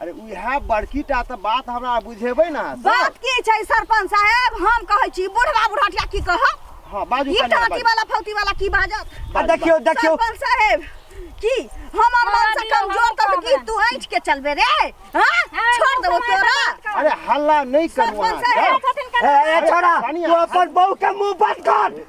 अरे उएह बड़की टा तऽ बात हमरा बुझेबै ने अहाँ सब। बात की छै सरपंच साहेब हम कहै छी बुढ़वा बुढ़टिया की कहब हँ बाजू ई कनिया, टाटी बाजू। वाला फौती वाला की बाजत आ बाजू, देखियो देखियो सरपंच साहेब की हमर मन से कमजोर कर की तू ऐठ के चलबे रे हां छोड़ देबो तोरा अरे हल्ला नहीं करू सरपंच अहाँ साहेब, सब। ए ए छोरा कनिया, तू अपन बहू के मुंह बंद कर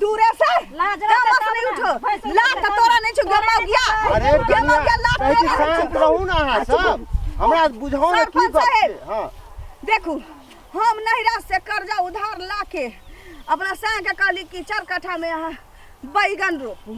दूरे से लाज लाज रहता से नहीं तब ना। उठो भैंसुर लाज तो तोरा नहीं छो गमा गया अरे गमा कनिया गया लाज कहै छी तोरा शांत रहू ना अहाँ सब हमरा बुझाउ ने की सरपंच गप साहेब। छै हँ देखू हम नैहरा से कर्जा उधार लाके अपना साँके कहली कि चार कट्ठामे अहाँ बैगन रोपू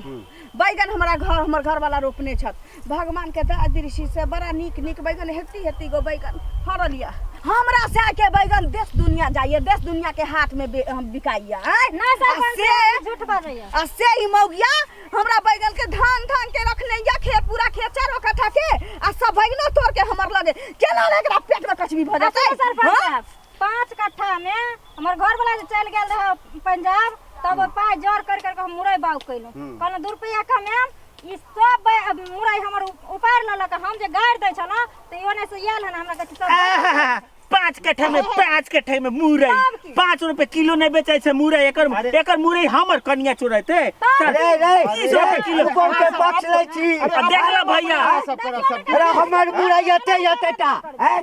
बैगन हमारा घर हमर घर वाला रोपने छत भगवान के दया दृष्टि से बड़ा नीक नीक बैगन हेती हेती गो बैगन फरल ये हमरा से के बैगन देश दुनिया जाइए देश दुनिया के हाथ में बे- हम बिकाइए आँय? ना आ सरपंच से साहब, झूठ बाजै यऽ। आ से ही मौगिया हमरा बैगन के धान धान के रखने या खेत पूरा खेत चारो कट्ठा के आ सब बैगनो तोड़ के हमर लगे केना ले एकरा पेट में कचबी भर आ जाते सुनू सरपंच हाँ? साहब, पाँच कट्ठा में हमर घरवला जे चलि गेल रहै पंजाब तब पाइ जोर कर कर के हम मुरई बाउ कैलहुँ हम्म। कहलहुँ दू रुपैआ कमाएम ई सब बै- मुरई हमर उप- उपाड़ि लेलक हम जे गाड़ि दै छलहुँ तऽ ओने से आयल हन हमरा कहै छै सब आहा, पाँच कट्ठा में पाँच कट्ठा में मुरई सब की? पाँच रुपए किलो नहीं बेचे छै मुरई एकर अरे। एकर मुरई हमर कनिया चोरते तब रे रे तीस रुपए किलो तू कौन के पक्ष लै छी अब देख लो भैया सब करब सब अरे हमर मुरई एते एते टा हैं?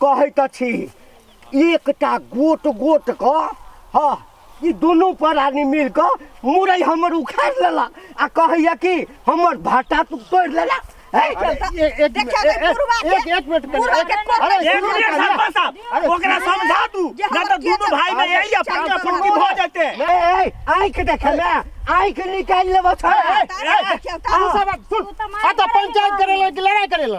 कहैत अछि एकटा गोट गोट कऽ हँ ई दुनू प्राणी मिल कऽ मुरई हमर उखाड़ लेला आ कहैया कि हमर भाटा तू तोड़ि लेला हे, अरे, ए- एक मिनट, देखियौ, ए- ए- बुढ़वा के- एक- एक मिनट करिए, बुढ़वा एक- के कोन- अरे, एक सुनू मिनट करिए। सरपंच साहब अरे, ओकरा सुनू करिए। समझा दू जे ना हमर तो दोनों के- भाई में अरे, यही अपन चल, अपन चल, की भऽ जेते ए, ए, आँखि देखे ने आँखि निकालि लेबो छोड़ ए, ए, ए, तू सब सुन, आ तो पंचायत करे ला कि लड़ाई करे ला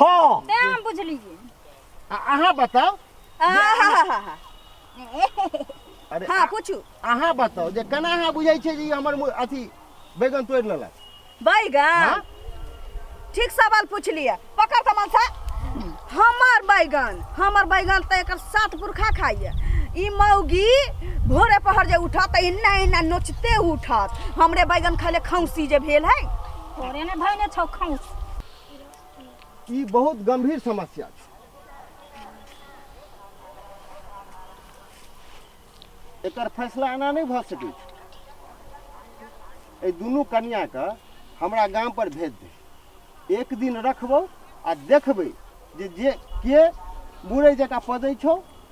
हाँ ते हम बुझली जी आ अहाँ बताओ आहाहाहा। अरे हाँ पूछू अहाँ बताओ जे केना अहाँ बुझै छियै जे ई हमर मु- अथी बैगन तोड़ि लेलक बैगन हाँ? ठीक सवाल पूछ लिया पकड़ तो मन से हमर बैगन हमर बैगन तो एकर सात पुरखा खाइए ई मौगी भोरे पहर जे उठत तऽ इन्ना इन्ना नोचते उठत हमरे बैगन खाले खौसी जे भेल है थोड़े ने भइने छौ खौस ई बहुत गंभीर समस्या छै एकर फैसला एना नहि भऽ सकै छै एहि दुनू कनियाके हमरा गाम पर भेज दे एक दिन रखबौ आ देखबै जे जे के मुरै जकाँ पदै छौ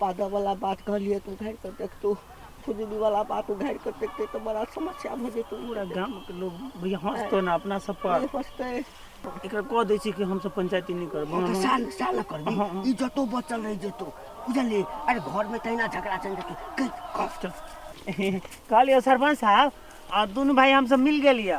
पादऽवला बात कहलियै तऽ उघारि कऽ देखतौ फुजूलीवला बात उघारि कऽ देखतै तऽ बड़ा समस्या भऽ जेतौ पूरा गामके लोग भैया हँसतो ने अपना सब पर नहि पछतै एकरा कह दै छी कि हमसब पंचायती नहि करब ओ तऽ साल साल करबी हँ, हँ। इज्जतो बचल रहि जेतौ बुझलियै अरे घरमे तहिना झगड़ा चलि जेतौ कहि कह कहलियै सरपंच साहब आ दुनू भाई हमसब मिल गेलियै